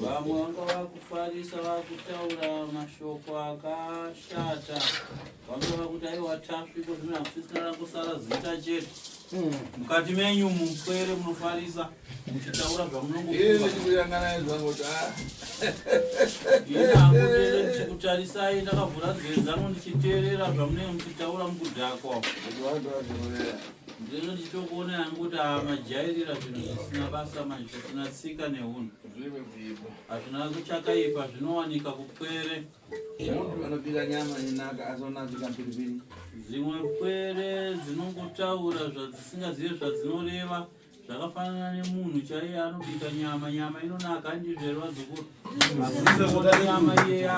Vamwe vanga vakufarisa vakutaura mashoko akashata vanga vakuti aiwa tasvi ko zvino hakusisina kusara zita chete hmm. mukati menyu mupwere munofarisa muchitaura zvamunongokutarisai ndakavhura dzedzano ndichiteerera zvamunenge muchitaura mukudhakwa Ndino ndichitokuona yangu kuti majairira zvinhu zvisina basa manje zvisina tsika nehunhu. Hazvina kuchakaipa zvinowanika kupwere. Munhu anobika nyama inaka azonazika mbiribiri. Dzimwe pwere dzinongotaura zvadzisingazive zvadzinoreva. Zvakafanana nemunhu chaiye anobika nyama, nyama inonaka handizvere vazukuru? Asi nyama iye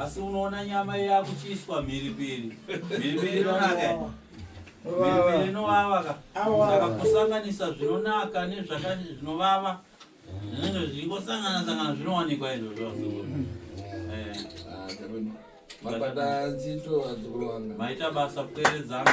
asi unoona nyama iye yakuchiiswa mhiripiri. Mhiripiri inonaka. Mhiripiri inovava ka. Saka kusanganisa zvinonaka nezvakati zvinovava. zvingosangana sangana zvinowanikwa izvozvo mabata nzito adzikurwanga maita basa kuteredzana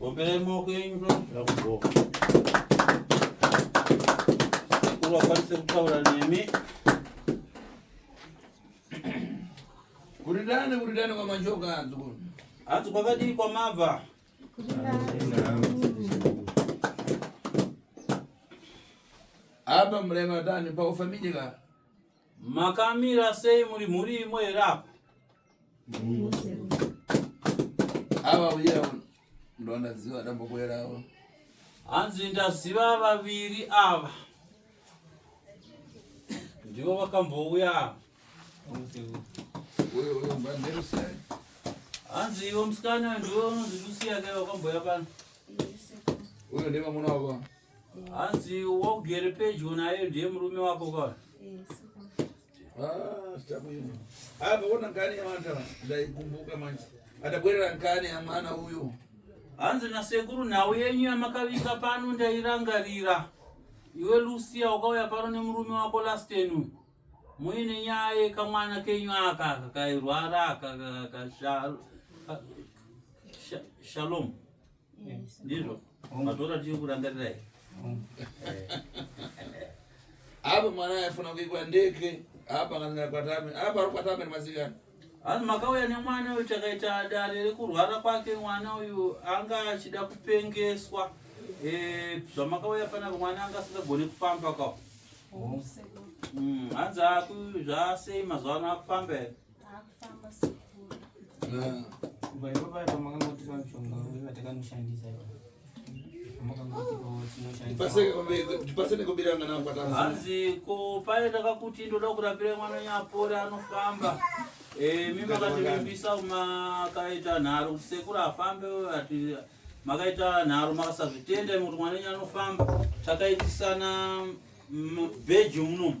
Bomberei maoko enyu ndokubhoka. Sekuru akwanise kutaura nemi. Kuridane kuridane kwa majoka adzukuru. Adzu kwakadii kwamabva? Apa murema tani pa ufamijika. Makamira sei muri mhuri imwe here apa? Ava uya ndo ndaziva dambokwera avo. Hanzi ndaziva vaviri ava. Ndivo vakambouya ava. Uyo uyo mbandero sei? Hanzi ivo musikana ndivo unonzi Lucia kai vakambouya pano. Uyo ndiye vamuna wavo. hanzi wogere pedyo naye ndiye murume wako ka apaona ah, nkani yamata ndaikumbuka manje atabwerera nkani yamwana uyo hanzi nasekuru nhau yenyu yamakavika pano ndairangarira iwe lucia wakauya pano nemurume wako lasten uyu muine nyaya yekamwana kenyu aka kakairwara kakashalom ndizvo matora tiyo kurangarira here apa mwana aifuna kuikwa ndeke apa kana kwatame apa ari kwatame nemasikana vanhu makauya nemwana uyu takaita dare rekurwara kwake mwana uyu anga achida kupengeswa eh, zvamakauya panapa mwana anga asingagone kufamba ka oh. mm, hanzi aku zvasei mazuva ano akufamba here hanzi ko paye takakuti ndoda kurapira mwana nyapore anofamba eh, mi makativimbisa makaita nharo kuti sekuru afambe ati makaita nharo makasazvitenda kuti mwana enyu anofamba takaitisana bheji munomu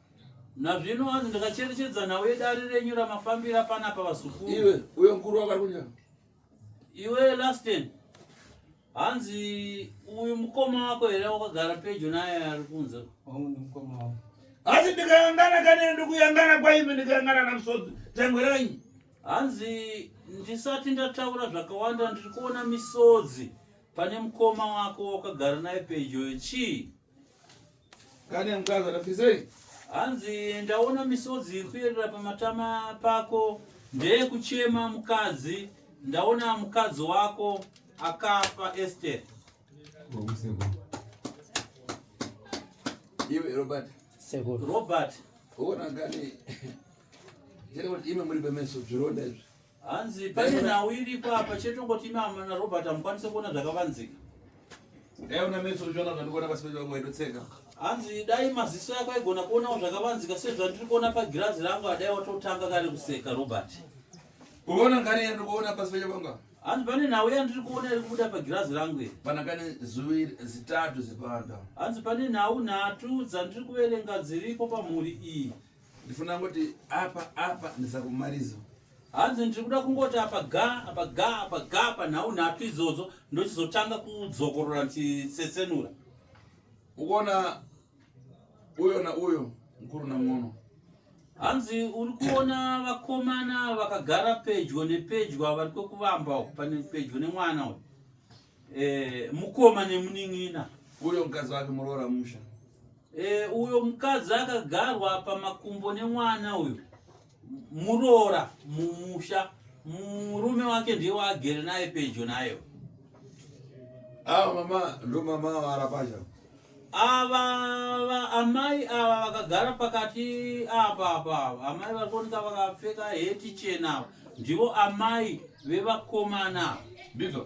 Nazvino hanzi ndakacherechedza nhau yedare renyu ramafambira panapa vazukuru. Iwe uyo mkuru wakari kunyama. Iwe Lasten. Hanzi uyu mukoma wako here wakagara pedyo naye ari kunze. Wangu ndi mukoma wako. Asi ndikayangana kane ndikuyangana kwaimi ndikayangana namusodzi. Tangwe ranyi. Hanzi ndisati ndataura zvakawanda ndiri kuona misodzi pane mukoma wako wakagara naye pedyo chii? Kane mkazi atafisei? Hanzi ndaona misodzi kuyerera pamatama pako ndeye kuchema mukadzi ndaona mukadzi wako akafa Esther. Iwe Robert. Sekuru. Robert. Ona kane. Jere kuti ime muri bemeso zvironda izvi. hanzi pane nhau iripo apa chete ungoti imi amana na robert hamukwanise kuona zvakavanzika dai una metso uchiona zvandikuona pasi pedu vamwe itotsenga hanzi dai maziso yako aigona kuonawo zvakavanzika sezvandiri kuona pagirazi rangu adai watotanga kare kuseka robert kuona ngani yandikuona pasi pedu vanga hanzi pane nhau yandiri kuona iri kubuda pagirazi rangu iri pana kane zuvi zitatu zipanda hanzi pane nhau nhatu dzandiri kuverenga dziripo pamhuri iyi ndifuna kuti apa apa ndisakumarizo hanzi ndiri kuda kungoti apa ga apa ga apa ga apa nhau nhatu idzodzo ndochizotanga kudzokorora ndichitsetsenura ukuona uyo na uyo mukuru na mwono hanzi uri kuona vakomana vakagara pedyo nepedyo vari kwekuvamba pane pedyo nemwana uyu Eh, mukoma nemunin'ina uyo mukadzi wake muroora musha eh, uyo mukadzi akagarwa pamakumbo nemwana uyo muroora mumusha murume wake ndiye waagere naye pedyo nayo ava ah, mama ndo mama avara pasha ava amai ava vakagara pakati apa apa ava amai vari kuoneka vakapfeka heti chena ava ndivo amai vevakomana ava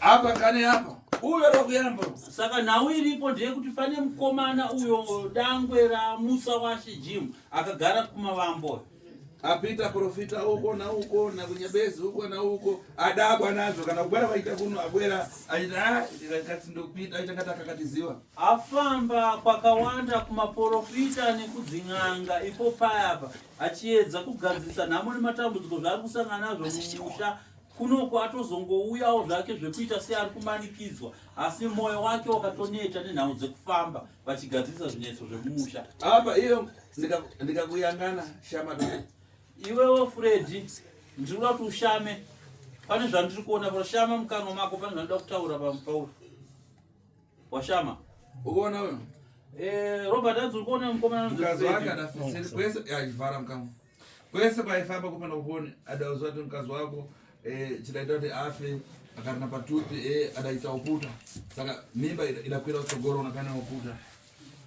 apa kane apa uyo rokuyamba saka nhau iripo ndeyekuti pane mukomana uyo dangwe ramusa washe jim akagara kumavambo apita profita uko nauko nakunyebezi uko nauko adabwa nazvo kana kubwera vaita kuno abwera aitikatsindopita ah, aita ngati akakatiziva afamba kwakawanda kumaprofita nekudzin'anga ipo payapa achiedza kugadzirisa nhamo nematambudziko zvaari kusangana nazvo mumusha Kunoko atozongouyawo zvake zvekuita seari kumanikidzwa asi mwoyo wake wakatoneta nenhau dzekufamba vachigadzirisa zvinetso zvemumusha. Apa iyo ndikakuyangana shama doko. Iwewo Freddy ndinoda kuti ushame pane zvandiri kuona pashama mukanwa mako pane zvandida kutaura pamupauri washama ukuona uno eh, robert adzi uri kuona mukomana mukazwakadafisiri kwese yachivhara mukanwa Kwese kwaifamba kupanda kuponi adauza kuti mkazi wako eh, chidaita kuti afe akarina patupi eh, adaita uputa saka mimba idakwira kutsogoro unakana uputa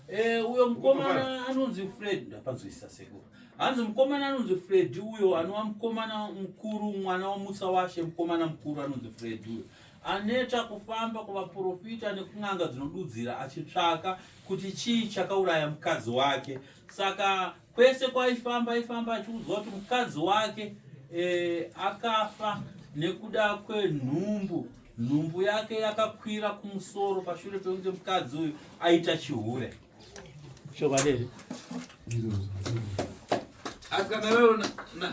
eh, uyo mkomana anonzi Fred ndapanzwisisa sekuru hanzi mkomana anonzi Fred uyo anova mkomana mkuru mwana wamutsa washe mkomana mkuru anonzi Fred uyo aneta kufamba kuvaprofita nekun'anga dzinodudzira achitsvaka kuti chii chakauraya mukadzi wake saka Kwese kwaifamba aifamba achiudzwa kuti mukadzi wake e, akafa nekuda kwenhumbu. Nhumbu yake yakakwira kumusoro pashure pekunge mukadzi uyu aita chihure. Chokwadi here? Asi kana iwewo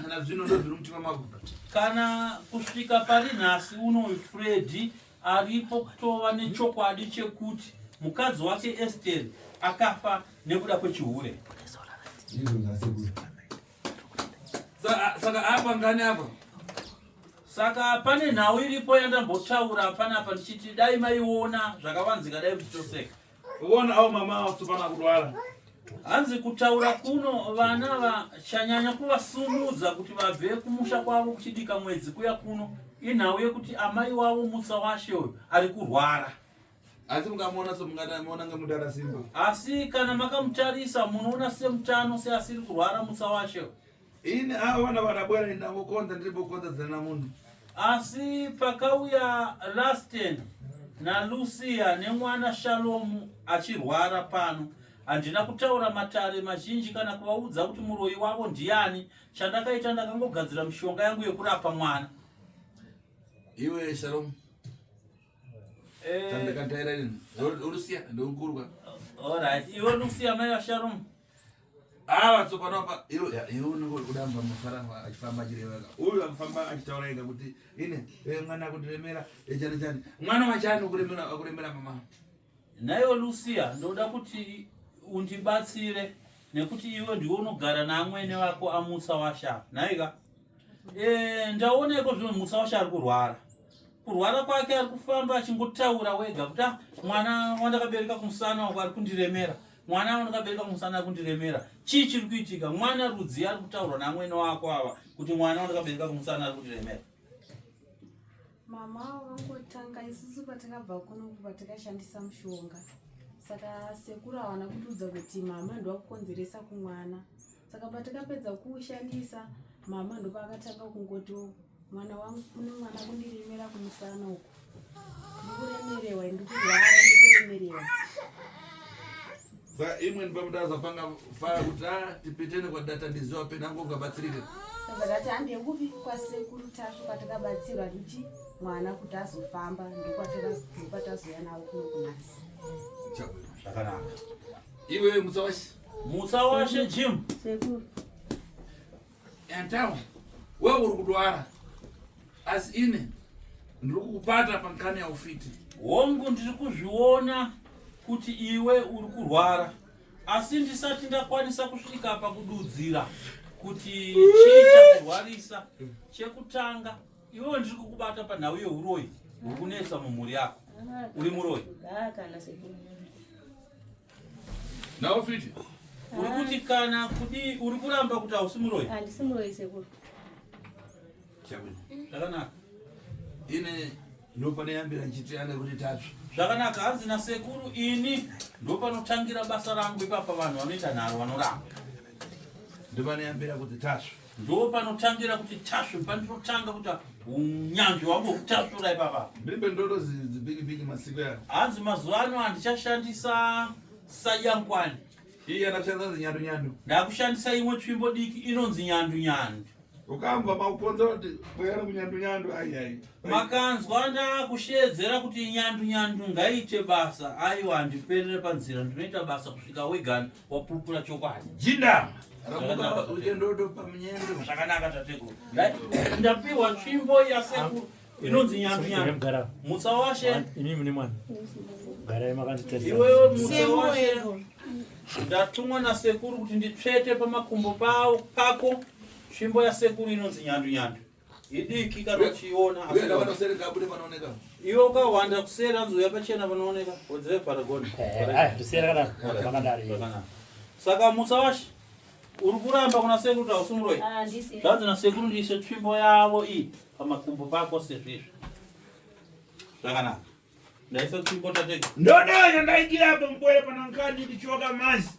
nazvino ndozviri mutima mako. Kana kusvika pari nhasi unoyu Freddy aripo kutova nechokwadi chekuti mukadzi wake esteri akafa nekuda kwechihure saka apa ngani apa saka pane nhau iripo yandambotaura panapa ndichiti dai maiona zvakavanzika dai muchitoseka Uone au mama watsopana kudwara. Hanzi kutaura kuno vana vachanyanya kuvasumudza kuti vabve kumusha kwavo kuchidika mwedzi kuya kuno inhau yekuti amai wavo mutsa washe uyu ari kurwara asi mukamuona somungatamiona ngemudara simba asi kana makamutarisa munoona semutano seasiri kurwara mutsa washe uyu ini avo vana varabwera ini ndangokonza ndiri bokonza dzina namunhu asi pakauya lasten nalucia nemwana shalomu achirwara pano handina kutaura matare mazhinji kana kuvaudza kuti muroyi wavo ndiani chandakaita ndakangogadzira mishonga yangu yekurapa mwana iwe shalomu eh, chandakataira ini lucia ndonkurwa orit iwe lucia mai vashalomu Ah, vatsopano apa iwo iwo unenge kudamba mufara achifamba achireva ka uyu anofamba achitaura ega kuti ine eh, mwana kutiremera eh, chani chani mwana wachani ukuremera ukuremera mama naiwe lucia ndoda kuti undibatsire nekuti iwe ndiwe unogara naamwene vako amusa washa nhaika eh, ndaoneko zvino musa washa ari kurwara kurwara kwake ari kufamba achingotaura wega kuti ah, mwana wandakabereka kumusana wako ari kundiremera mwana avo ndakabereka musana kundiremera chii chiri kuitika mwana rudzii ari kutaurwa namwene wako ava kuti mwana wandakabereka kumusana ari kundiremera mama avo vangotanga isusu patakabva kunoku patakashandisa mushonga saka sekuru awana kutiudza kuti mama ndovakukonzeresa kumwana saka patakapedza kuushandisa mama ndopaakatanga kungotiwo mwana wangu kune mwana kundirimira kumusana uku ndikuremerewa ndikurwara ndikuremerewa sa imweni pamuda azapanga faya kuti a ah, tipitene kwadata ndiziwa pena angu ungabatsirike ndakati handie kupi kwasekuru tasvu kwatakabatsirwa kuti mwana kuti azofamba ndokwatazoya navo kuno kunasi zvakanaka iwe musawasi Mutsa washe Jim. Sekuru. Yantawo. Wewe uri kudwara. Asi ine ndiri kukupata pankani yaufiti. Hongu ndiri kuzviona kuti iwe uri kurwara. Asi ndisati ndakwanisa kusvika pakududzira kuti chii chakurwarisa. Chekutanga iwe ndiri kukubata panhau yeuroyi uri kunetsa mumhuri yako. Uri muroyi. Ah, kana sekuru. Now fiti. Uri kuti kana kudi uri kuramba kuti hausi muroyi? Handisi muroyi sekuru. Chabuda. Ndakanaka. Ine ndopaneyambira nchitiana kuti tatsva zvakanaka hanzi nasekuru ini ndopanotangira basa rangu ipapa vanhu vanoita nharo vanoramba ndopaneyambira kuti tatsva ndopanotangira kuti tasvu pandinotanga kuti unyanzvi wangu kutasvura ipapa mbibe ndoto zibiki biki masiku yaro hanzi mazuva ano handichashandisa sayankwani iye anashandisa nzi nyandu nyandu ndakushandisa imwe tsvimbo diki inonzi nyandu nyandu ukambwa makukonza kuti kweyana kunyandu nyandu aiyai makanzwa ndakusheedzera kuti nyandu nyandu ngaite basa aiwa handiperere panzira ndinoita basa kusvika wegani wapupura chokwadi jinda zvakanaka tateguru ndapiwa tsvimbo yasekuru inonzi nyambinyambi mutsa washe imi mune mwana garai makanditaiwewe mutsa washe ndatumwa nasekuru kuti nditsvete pamakumbo pako tsvimbo yasekuru inonzi nyandunyandu idiki kana uchiona iwe ukahwanda kusera anzouya pachena panooneka odzeve paragoni saka musa washe uri kuramba kuna sekuru kuti hausi muroi ah, zvanzi nasekuru ndiise tsvimbo yavo iyi pamakumbo pako sezvizvi zvakanaka ndaisa tsvimbo tatega ndodoyo ndaikirapo mkwere panankanyi ndichoka mazi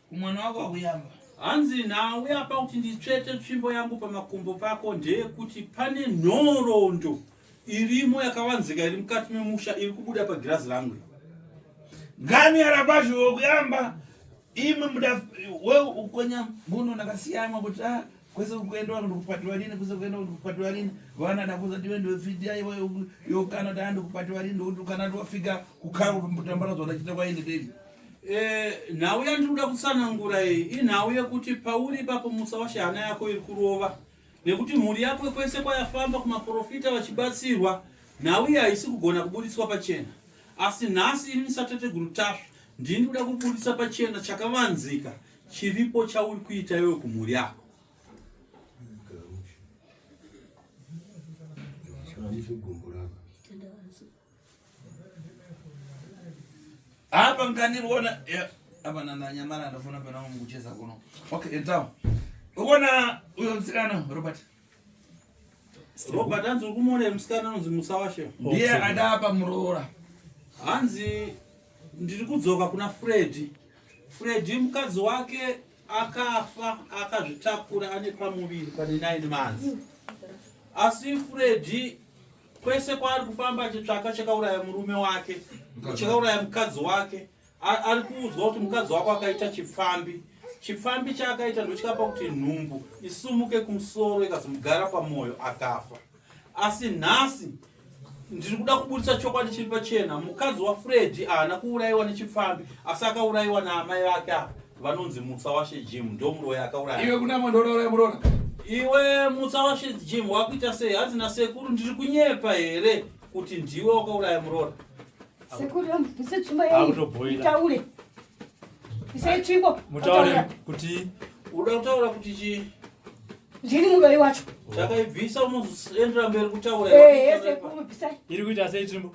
Kumwana wako akuyamba. Hanzi nawe apa kuti nditsvete tsvimbo yangu pamakumbo pako ndeyekuti pane nhorondo irimo yakavanzika iri mukati memusha iri kubuda pagirazi rangu. Gani yarabashi wokuyamba imwe muda we ukonya muno nakasiyamwa kuti ah kwese kuenda vanhu kupatiwa rini kwese kuenda vanhu kupatiwa rini vana dakuza diwe ndiwe fidia iwe yokana dandi kupatiwa rini ndokuti ukana ndiwafika kukhango pamutambara zona chita kwaende deli Eh, nhau yandiri kuda kutsanangura iyi inhau yekuti pauri ipapo musa washe hana yako iri kurova nekuti mhuri yako kwese kwayafamba kumaprofita vachibatsirwa nhau iyi haisi kugona kubuditswa pachena asi nhasi ini sateteguru tasva ndini kuda kubudisa pachena chakavanzika chiripo chauri kuita iwe kumhuri yako apa ngandiona apa nandanyamara ndafona pena mukucheza kuno okay entawo uona uyo musikana robert robert hanzi uri kumuona musikana anonzi musawashe ndiye adapa muroora hanzi ndiri kudzoka kuna fredi fredi mukadzi wake akafa akazvitakura ane pamuviri pane nine months asi fredi Kwese kwaari kufamba achitsvaka chakauraya murume wake, chakauraya mukadzi wake. Ari kuudzwa kuti mukadzi wako akaita chipfambi. Chipfambi chaakaita ndochikapa kuti nhumbu isumuke kumusoro ikazomugara pamwoyo akafa. Asi nhasi ndiri kuda kuburitsa chokwadi chiri pachena mukadzi wafredi haana kuurayiwa nechipfambi asi akaurayiwa naamai vake ava vanonzi mutsa washe jim ndomuroyi akauraya iwe kunamwe ndodauraya murona iwe mutsa washe jim wakuita sei hanzi nasekuru ndiri kunyepa here kuti ndiwe wakauraya murora sekuru ndise tsvimbo yeitaure isei tsvimbo mutaure kuti uda kutaura kuti chii ndini muroyi wacho chakaibvisa unozoendera mberi kutaura iri kuita sei tsvimbo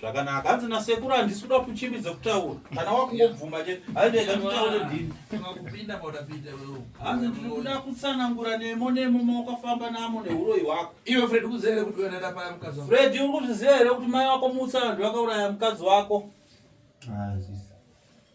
zvakanaka hanzi nasekuru handisi kuda kuchimbidza kutaura kana wakungobvuma chete handega nditaure ndini hanzi ndiri kuda kutsanangura nemo nemo mawakafamba namo neuroyi wako iwe fred kuziva here kuti unoenda paya mukadzi wako fred uri kuzviziva here kuti mai wako mutsa vanhu vakauraya mukadzi wako ah,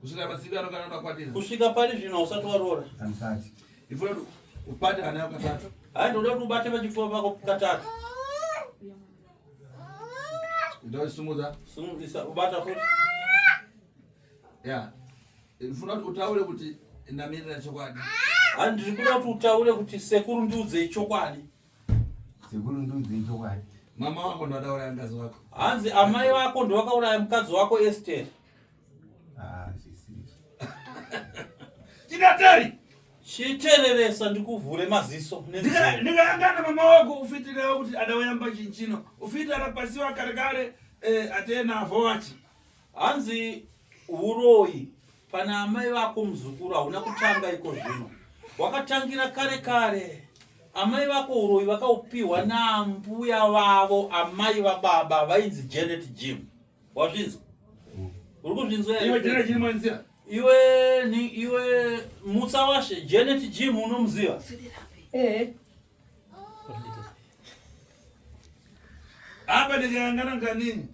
kusvika mazivi anokana ndakwatira kusvika pari zvino usati waroora andisati ifuna upate ana yako katatu hai ndoda kuti ubate pachipfuva pako katatu ndaisumudza sumudza ubata futi ya ndifuna kuti utaure kuti ndamirira chokwadi hai ndiri kuda kuti utaure kuti sekuru ndiudzei chokwadi sekuru ndiudzei chokwadi mama wako ndo akauraya mukadzi wako hanzi amai vako ndo vakauraya mukadzi wako esteri Tinatari. Chitereresa ndikuvhure maziso. Ndikayangana mama wako ufitira kuti adawayamba chinchino. Ufitira rapasiwa kare kare eh, atena vowachi. Hanzi uroyi pana amai vako muzukuru hauna kutanga iko zvino. Wakatangira kare kare. Amai vako uroyi vakaupiwa nambuya vavo amai vababa vainzi Janet Jim. wazvinzwa mm. uri kuzvinzwa iwe jena jini mwanzira iwe ni iwe mutsa washe janet jim unomuziva eh apa ndikangana nganini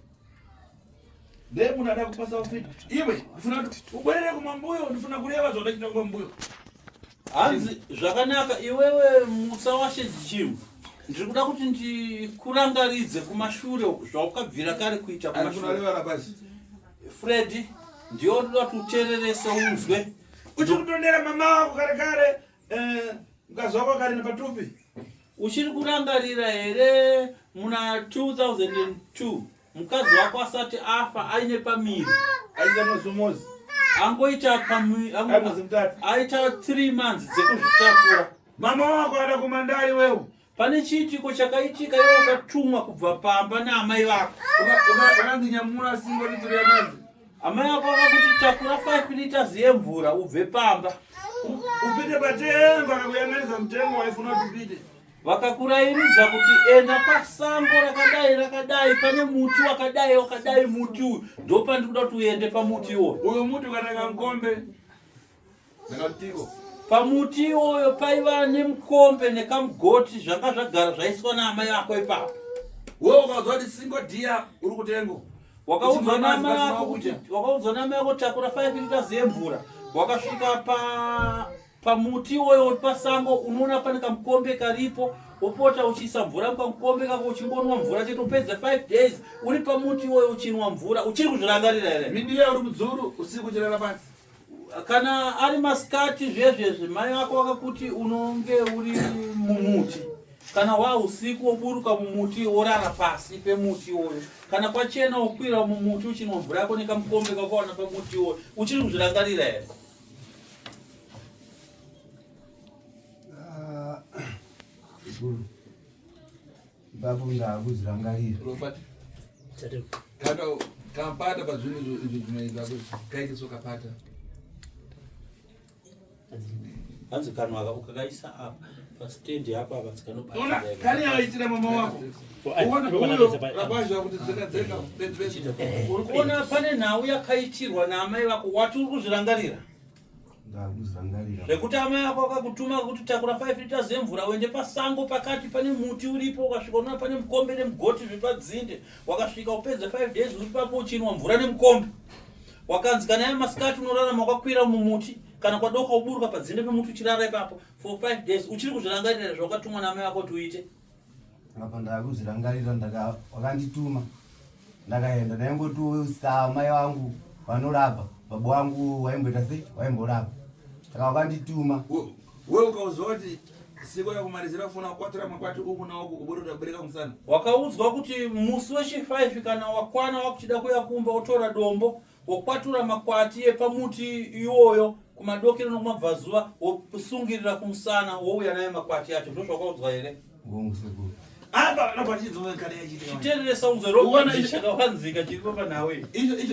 ndekunada kupasa ufita iwe ndifuna ubwerere kumambuyo ndifuna kureva zvaudachita kumambuyo hanzi zvakanaka iwewe mutsa washe jim ndiri kuda kuti ndikurangaridze kumashure uku zvaukabvira kare kuita Ari kumashure kunorevara pasi. fredi ndiyo ndoda kuti utererese unzwe Uchiri kutondera mama wako kare kare. Eh, mukadzi wako akarina patupi. uchiri kurangarira here muna 2002 mukadzi wako asati afa aine pamiri aita masomozi angoita aita three months dzekuzvitakura mama wako ada kumandari wewe pane chiitiko chakaitika iwe ukatumwa kubva pamba naamai vako ukanzi nyamura singo ritori yamanzi amai vako vakakuti takura 5 liters yemvura ubve pamba upite patengo akakuyanganisa mutengo waifuna kuti upite Vakakurairidza kuti enda pasango rakadai rakadai pane muti wakadai wakadai muti uyu ndopandi kuda kuti uende pamuti iwoyo. Uyu muti ukananga mukombe. Ndakatiko. Pamuti iwoyo paiva nemukombe nekamugoti zvanga zvagara zvaiswa naamai vako ipapo. Wewe ukaudzwa kuti singo dia uri kutengo. Wakaudzwa naamai vako kuti wakaudzwa naamai vako takura 5 liters yemvura wakasvika pa pamuti iwoyo uri pasango unoona pane kamukombe karipo wopota uchiisa mvura mukamukombe kako uchingonwa mvura chete upedze 5 days uri pamuti iwoyo uchinwa mvura uchiri kuzvirangarira here midiya uri mudzuru usiku uchirara pasi kana ari masikati zvezvezvi mai vako vakakuti unonge uri mumuti kana wa usiku woburuka mumuti worara pasi pemuti iwoyo kana kwachena wokwira mumuti uchinwa mvura yako nekamukombe kakawana pamuti iwoyo uchiri kuzvirangarira here ipapo ndakuzvirangarira kapata pazvinhu izvi zvinoita kaite so kapata hanzi kanhu aka ukakaisa apa pasitendi apo apa tsikanopaaaaitira mama wako uri kuona pane nhau yakaitirwa naamai vako wati uri kuzvirangarira zvekuti amai ako akakutuma kuti takura 5 liters yemvura uende pasango pakati pane muti uripo ukasvika unoona pane mukombe nemugoti zviri padzinde wakasvika upedza 5 days uri papo uchinwa mvura nemukombe wakanzi kana ya masikati unorarama wakakwira mumuti kana kwadoka uburuka padzinde pemuti uchirara ipapo for 5 days uchiri kuzvirangarira zvawakatumwa naamai ako kuti uite apa ndakuzvirangarira wakandituma ndakaenda ndaingotusa mai vangu vanorapa baba wangu waimboita sei waimborapa saka wakandituma we ukauziva kuti siko yakumalizira kufona kukwatira makwati uku nauku kuburuda kubereka musana wakaudzwa kuti musi wechi 5 kana wakwana wakuchida kuya kumba utora dombo wokwatura makwati epamuti iwoyo kumadokero nokumabvazuva wokusungirira kumusana wouya naye makwati acho ndo zvakaudzwa here chitereresa unzwerochakawanzika chiripo panhawe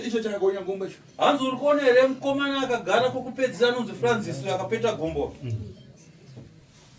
icho chakagonya gombo icho hanzi uri kuona here mukomana akagara kokupedzisira anonzi francis uyo akapeta gombo mm.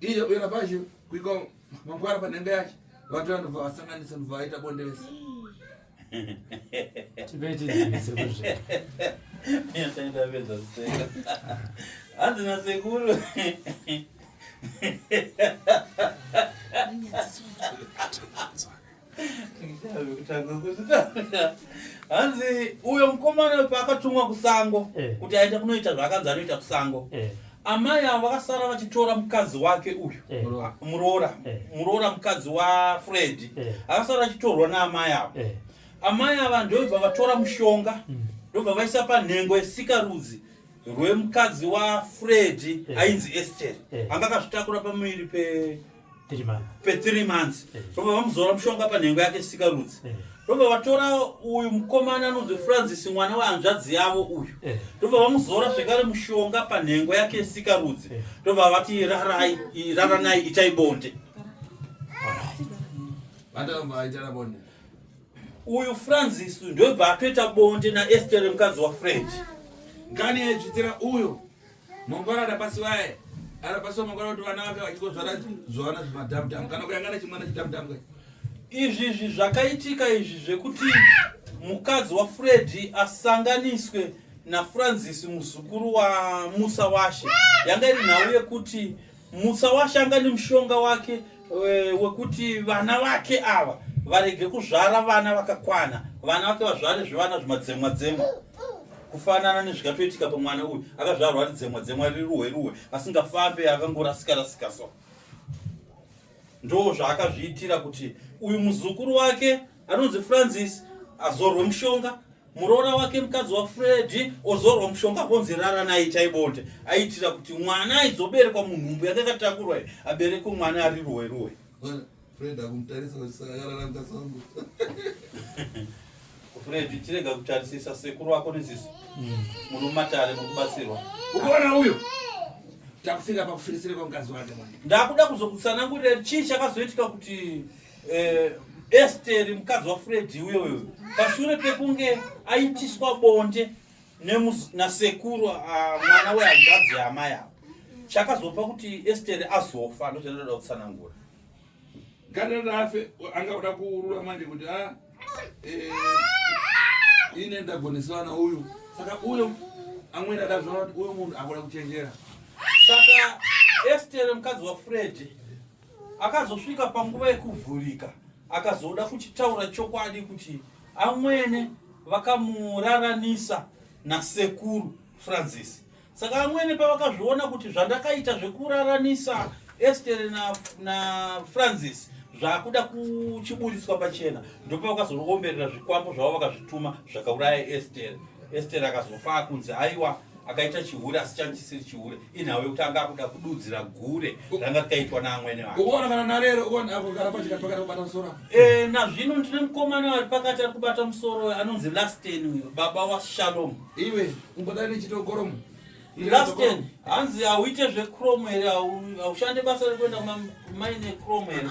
Iye uye lapashe kuiko mangwara panhenga yacho vatu vanhu vasanganisa nhu vaita bonde vese hanzi nasekuru hanzi uyo mukomana paakatumwa kusango eh. kuti aite kunoita zvaakanzi anoita kusango eh. amai avo vakasara vachitora mukadzi wake uyu eh. muroora muroora mukadzi wafredi akasara vachitorwa naamai avo amai ava ndobva vatora mushonga hmm. ndobva vaisa panhengo yesika rudzi rwemukadzi wafredi ainzi esteri anga akazvitakura pamuviri pe pe3 months eh. ndobva vamuzora mushonga panhengo yake sikarudzi eh. ndobva vatora uyu mukomana anonzi francis mwana wehanzvadzi yavo uyu eh. ndobva vamuzora zvekare mushonga panhengo yake sikarudzi ndobva vati rarai raranai itai bonde uyu francis ndobva atoita bonde naester mukadzi wafrench ngani yaidzvitira uyo Mangwana ndapasiwaye anapasiwa mangwana kuti vana vake vachingozvara zvivana zvemadhamdhamu kana kuyangana chimwana chidhamdhamu kai izvi izvi zvakaitika izvi zvekuti mukadzi wafredi asanganiswe nafrancis muzukuru wamusa washe yanga iri nhau yekuti Mutsawashanga nemushonga wake e, wekuti vana vake ava varege kuzvara vana vakakwana vana vake vazvare zvivana zvimadzemwa dzemwa kufanana nezvikatoitika pamwana uyu akazvarwa ari dzemwa dzemwa riri ruhwe ruhwe asingafambe akangorasika rasika so ndo zvaakazviitira kuti uyu muzukuru wake anonzi francis azorwe mushonga muroora wake mukadzi wafredi ozorwa mushonga konzi rara naye chaibonde aitira kuti mwana aizoberekwa munhumbu yake akatakurwa aberekwe mwana ari ruwe ruwe fred akumutarisa kusakarara mukadzi wangu fred chirega kutarisisa sekuru wako nezisi mm. muri mumatare muri kubatsirwa ukaona uyo takufika pakufirisire kwamukadzi wake mwana ndakuda kuzokutsanangurira chii chakazoitika kuti Eh, Esteri mukadzi waFredi uyo uyo pashure pekunge aitiswa bonde nemus- nasekuru ah, mwana wehanzvadzi yaamai avo chakazopa kuti Esteri azofa ndozvandinoda kutsanangura. Ganda rafe anga kuda kuurura manje kuti a eh, ine ndagonesana na uyu saka uyo amwene adazvaona kuti uyo munhu akuda kuchenjera Saka Esteri mukadzi waFredi akazosvika panguva yekuvhurika akazoda kuchitaura chokwadi kuti amwene vakamuraranisa nasekuru francis saka amwene pavakazviona kuti zvandakaita zvekuraranisa estere na, na francis zvakuda kuchiburitswa pachena ndopavakazoomberera zvikwambo zvavo vakazvituma zvakauraya estere estere akazofa akunzi aiwa akaita chihure asi change chisiri chihure inhau yekuti anga akuda kududzira gure ranga rikaitwa naamwene vakenazvino eh, ndine mukomana ari pakati ari kubata musoro anonzi lasten uyo baba washalom iwe umbodai nechitogoromo lasten hanzi hauite zvecrom here haushande basa rekuenda kumaine crom here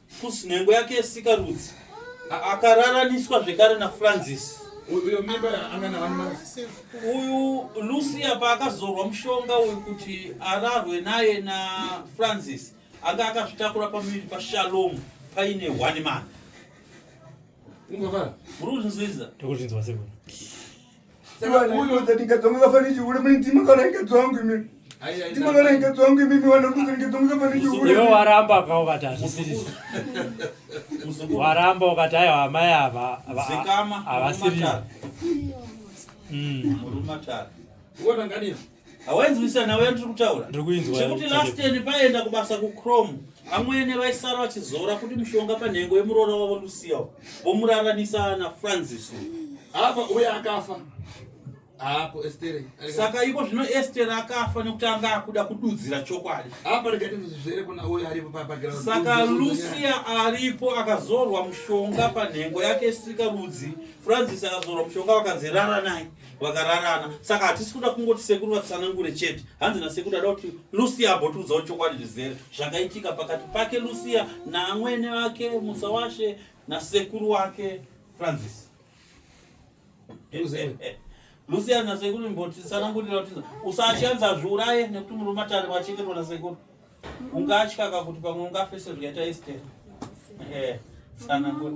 Fusi nhengo yake yesikarudzi akararaniswa zvekare naFrancis. Uyo mimba anga na one month. Uyu Lucia paakazorwa mushonga uyu kuti ararwe naye na Francis anga akazvitakura pamuviri paShalom paine one month. Ungavara. Uri kuzvinzwisisa? Ndokuzvinzwa sekuru. iwe waramba ka ukati hazvisirisi waramba ukati aiwa amai ava havasirisi hawainzwisisa nhau yandiri kutaura chekuti last year paenda kubasa kuchrome amwene vaisara vachizora kuti mushonga panhengo yemuroora wavo lucia vomuraranisa na francis apa uye akafa apo estere saka iko zvino estere akafa nekuti anga akuda kududzira chokwadi apa regatinzvere kuna uye aripo pabaground saka lucia aripo akazorwa mushonga panhengo yake sika rudzi francis akazorwa mushonga vakanzi rara naye vakararana saka hatisi kuda kungoti sekuru vatsanangure chete hanzi nasekuru ada kuti lucia abotiudzawo chokwadi zvizere zvakaitika pakati pake lucia naamwene vake musa washe nasekuru wake francis lucia nasekuru mboti tsanangurira kuti usashanza zviuraye nekuti murume atari vachengetwa nasekuru ungatya ka kuti pamwe ungafese zvikaita estera eh, tsanangura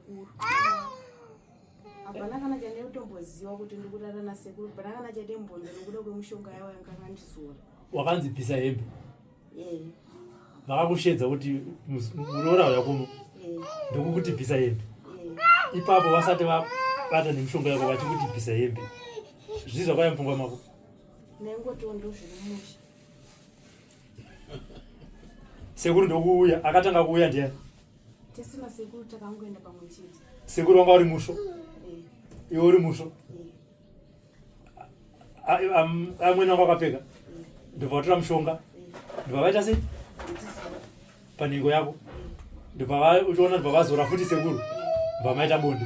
hapana kana chandinotomboziva kuti ndikurara nasekuru hapana kana chatembonza nokuda kwemushonga yavo yanganga ndizora wakanzi bvisa hembe vakakushedza kuti muroora uya kuno ndokukuti bvisa hembe ipapo vasati vabata nemushonga yako vachikuti bvisa hembe zvii zvakaya mupfungwa mako nengotiwo ndozviri musha sekuru ndokuuya akatanga kuuya ndiye tisina sekuru takangoenda pamwe chete sekuru wanga uri musvo eh. iwe uri musvo eh. amwene wanga wakapfeka eh. ndobva vatora mushonga ndobva vaita sei panhengo yako ndobva uchiona ndobva vazora futi sekuru ndobva maita bonde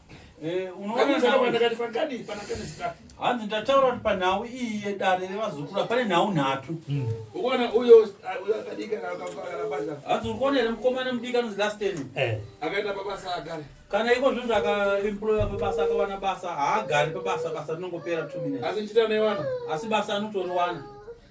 Eh, hanzi ndataura kuti panhau iyi yedare revazukura pane nhau nhatu hmm. hanzi uri kuona here mukomana mudiki anonzi lasten eh. kana iko zvinhu zvakaemploya pabasa akawana basa haagari pabasa basa rinongopera two minutes asi basa anotoriwana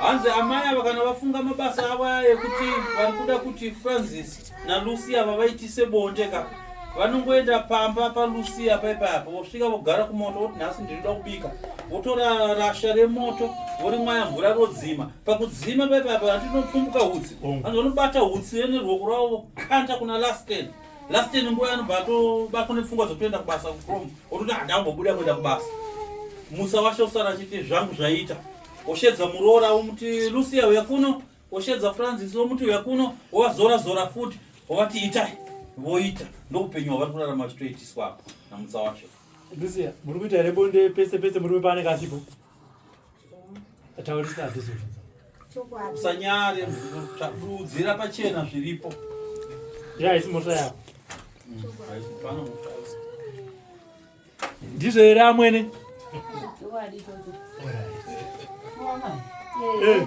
hanzi amai ava kana vafunga mabasa avo aya ekuti vari kuda kuti francis nalucia vavaitise bonde ka vanongoenda pamba palucia paipaiapo vosvika vogara kumoto voti nhasi ndinoda kubika votora rasha remoto vorimwaya mvura rodzima pakudzima paipaiapo handinopfumbuka hutsi vanzi vanobata hutsi rene ruoko rwavo vokanda kuna lasken last ten nguva anobva atobatwa nepfungwa dzotoenda kubasa kucrom ototi handambobuda kuenda kubasa musa washe usara achiti zvangu zvaita oshedza muroora omuti lucia uya kuno oshedza francis omuti uya kuno ovazora zora futi ovati itai voita ndoupenyu hwavari kurarama vachitoitiswa apo namusa washe lucia muri kuita here bonde pese pese murume paanenge asipo Taurisa this one. Usanyare kudzira pachena zviripo. Yeah, it's mota yako. Mm, Ndizvo here amwene? Chokwadi chocho. All right. Mwana. Eh.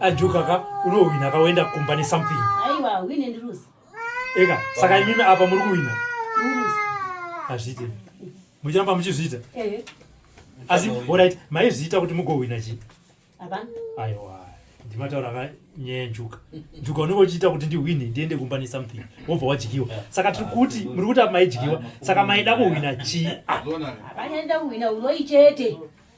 ajuka ka unohwina ka woenda kumba nesomething eka saka imimi apa muri kuhwina hazviite muchiramba muchizviita asi orit maizviita kuti mugohwina chii aiwa ndimataura ka nyaya yenjuka njuka unenge uchiita kuti ndihwine ndiende kumba nesomething wobva wadyiwa saka tiri kuti muri kuti apa maidyiwa saka maida kuhwina chii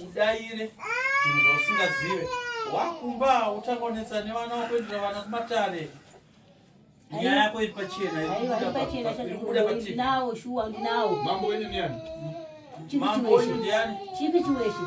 udaire zvinhu zvausingazive wakumba utanga unetsa nevana wakuendera vana kumatare nyaya yako iri pachena ndinawo shuwa ndinawo mambo wenyu ndiani mambo wenyu ndiani chipi chiweshe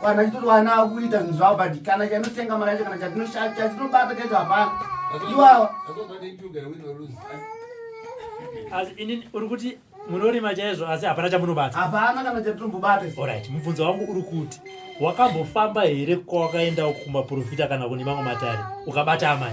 kana chitoti vana vakuita zvinhu zvavo but kana chanotenga mari yacho kana chatinobata chacho hapana iwawa asi ini uri kuti munorima chaizvo asi hapana chamunobata hapana kana chatinombobata orit mubvunzo wangu uri kuti wakambofamba here kwawakaenda kumaprofita kana kune mamwe matare ukabata amai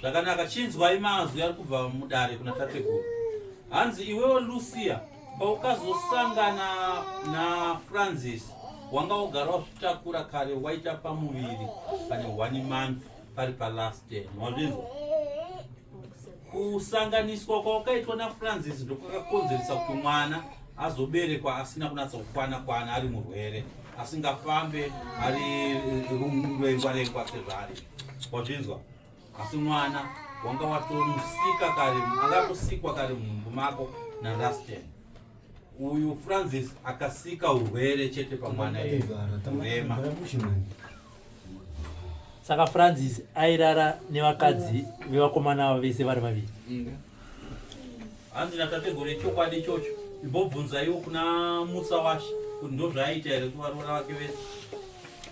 Zvakanaka chinzwai mazwi ari kubva mudare kuna tateguru. Hanzi iwewe Lucia paukazosangana na Francis wanga wogara wazvitakura kare waita pamuviri pane one month pari palast ten wazvinzwa kusanganiswa kwawakaitwa nafrancis ndokwakakonzeresa kuti mwana azoberekwa asina kunatsa kukwana kwana ari murwere asingafambe ari rungurengwa rengwa sezvaari wazvinzwa asi mwana wanga watomusika kare akatosikwa kare mumumbu mako narastin uyu francis akasika urwere chete pamwana rema saka francis airara nevakadzi vevakomana avo vese vari vaviri hanzi natategore chokwadi ichocho imbobvunzaiwo kuna musa washe kuti ndozvaaiita here kuvaroora vake vese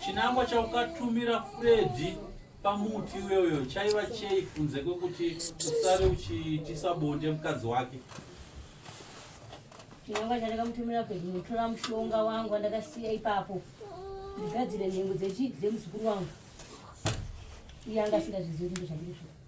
Chinangwa chaukatumira Freddy pamuti iyoyo chaiva chei kunze kwekuti usare uchiitisa bonde mukadzi wake? Chinangwa chandakamutumira Freddy mutora mushonga wangu wandakasiya ipapo ndigadzire nhengo dzemuzukuru wangu iye anga asingazvizivi kuti ndozvandiri zvoo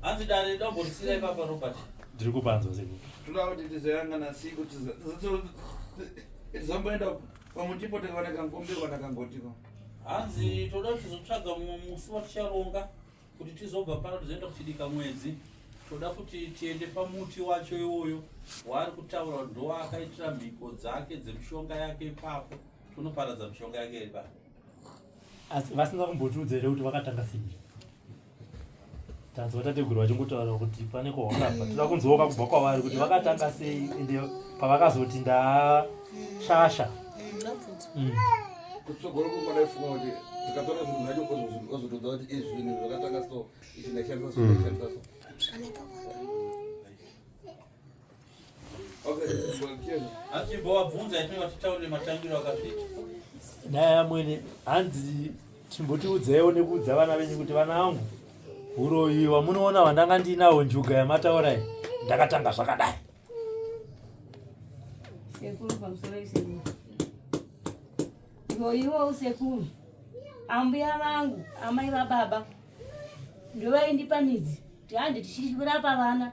Hanzi dare dombo risira ipapa Robert. Ndiri kupanzwa seko. Tinoda kuti tizoyanga na siku tizo. Zomboenda pamuti pote kana kankombe kana kangotiko. Hanzi toda tizotsvaga mumwe musi waticharonga kuti tizobva pano tizoenda kuchidika mwedzi. Toda kuti tiende pamuti wacho iwoyo waari kutaura ndo akaitira mhiko dzake dzemushonga yake ipapo. Tonoparadza mushonga yake ipapo. Asi vasinga kumbotiudza here kuti vakatanga sei? tanzwa tateguru vachingotaura kuti pane kwahwakabva toda kunzwoka kubva kwavari kuti vakatanga sei ende pavakazoti ndashasha mm. mm. dai amwene hanzi chimbotiudzaiwo nekuudza vana venyu kuti vana vangu uroyi wamunoona vandanga ndiinawo njuga yamataura iyi ndakatanga zvakadai sekuru pamusoro isekuru ngoiwo usekuru ambuya vangu amai vababa ndovaindipa midzi tiandi tichirapa vana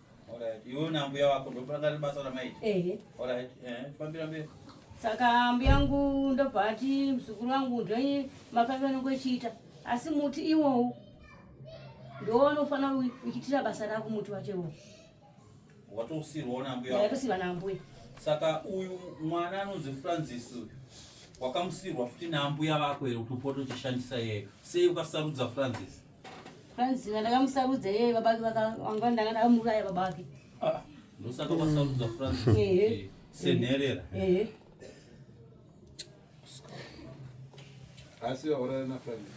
Alright, iwe na mbuya wako ndopanga basa ramaita. Ehe. Alright, eh, fambira mberi. Saka mbuya yangu ndobva ati muzukuru wangu ndoi mapave anenge echiita asi muti iwowu ndowanofanira uchitira basa rako muti wacho iwowu. Watosirwa na mbuya. Watosirwa na mbuya. Saka uyu mwana anonzi Francis uyu wakamusirwa futi na mbuya vako here kuti upote uchishandisa yeye. Sei ukasarudza Francis? Franzina ndakamusarudza yeye baba vake vakanga ndanga ndakamuraya baba vake. Ah, ndosaka wasarudza Franzina. Ehe. Eh, senherera. Ehe. Asi waurara na Franzina.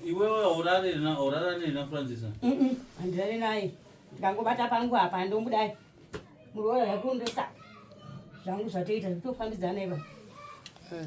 Iwewe waurara na urara nei na Franzina? Mhm. Andirare naye. Ndangobata pangu apa ndomudai. Muroora yakundosa. Zvangu zvatoita zvitofambidzana ipa. Eh.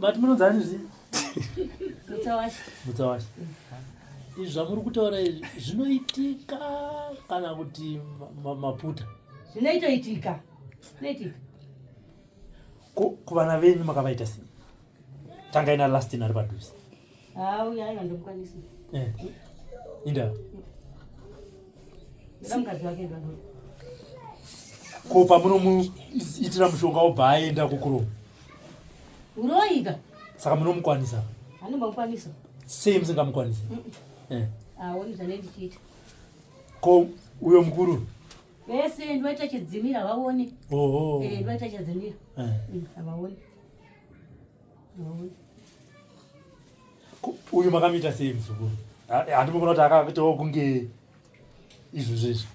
But munonzani zvi? Mutsawashi. Mutsawashi. Izvi zvamuri kutaura izvi zvinoitika kana kuti maputa? Zvinoitoitika. Zvinoitika. Ko kuvana venyu makavaita sei? tangai na lastin ari padhuze eh, inda ko pamunomuitira mushonga obva aenda kukuromo uroika saka munomukwanisa anomukwanisa sei musingamukwanisa eh. aoni zvane ndichiita ko uyo mukuru vese ndoita chidzimira vaone oho eh, ndoita chidzimira eh. mm, havaoni uyu makamuita sei muzukuru handimukona kuti akaitawo kunge izvo zvezvo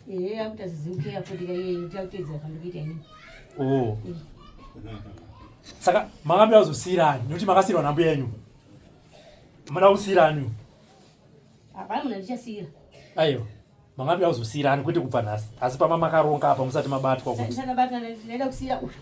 oh. saka makambira kuzosiyirani nekuti makasiyirwa nambuya yenyu mada kusiyirani aiwa makambira kuzosiyirani kwete kubva nhasi asi pama makaronga apa musati mabatwa kuti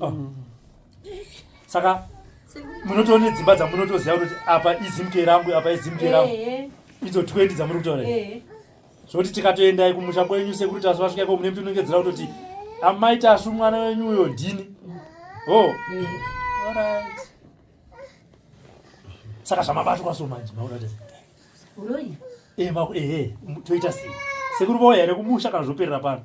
oh. saka munotoona nedzimba dzamunotoziva kutoti apa izimk rangu apa izimk rangu idzo 20 dzamuri kutaura zvoti tikatoendai kumusha kwenyu sekuri tasu vasvika iko mune mutinongedzera kutoti amai tasu mwana wenyu uyo ndini ho oh. saka zvamabatwa so manje maonatei ehe eh, eh, toita sei sekuri vauya here kumusha kana zvoperera pano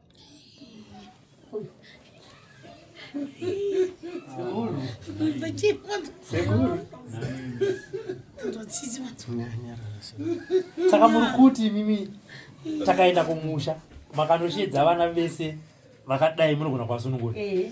saka muri kuti mimi takaenda kumusha makanoshedza vana vese vakadai munogona kwasunungura eh.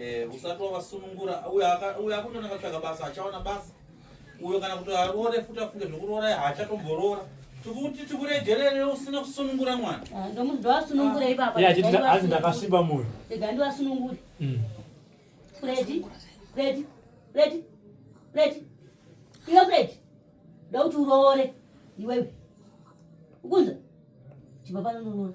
Eh, usati wavasunungura uyo akutona akatsvaga basa achaona basa uyo kana kuti aroore futi afunge zvekuroora haachatomborora tikuti tikuregerere usina kusunungura mwana ah, ndomunhu ndoasunungura ah. ipapa azi ndakasviba moyo ega ndiwasunungure mm. fredi fredi fredi fredi iwe fredi ndokuti uroore iwewe ukunza chibva panononoona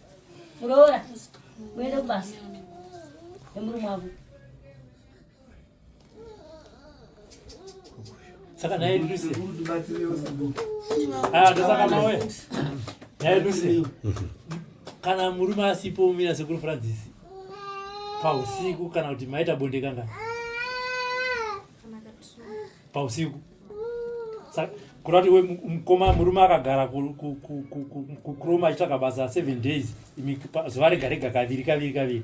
muroora muende kubasa nemurume wavo saka naye lucy ah, ndosaka mawe naye lucy kana murume asipo umira sekuru francis pausiku kana kuti maita bonde kanga pausiku kuda kuti mukoma murume akagara kuchrome achitsvaga basa seven days zuva rega rega kaviri kaviri kaviri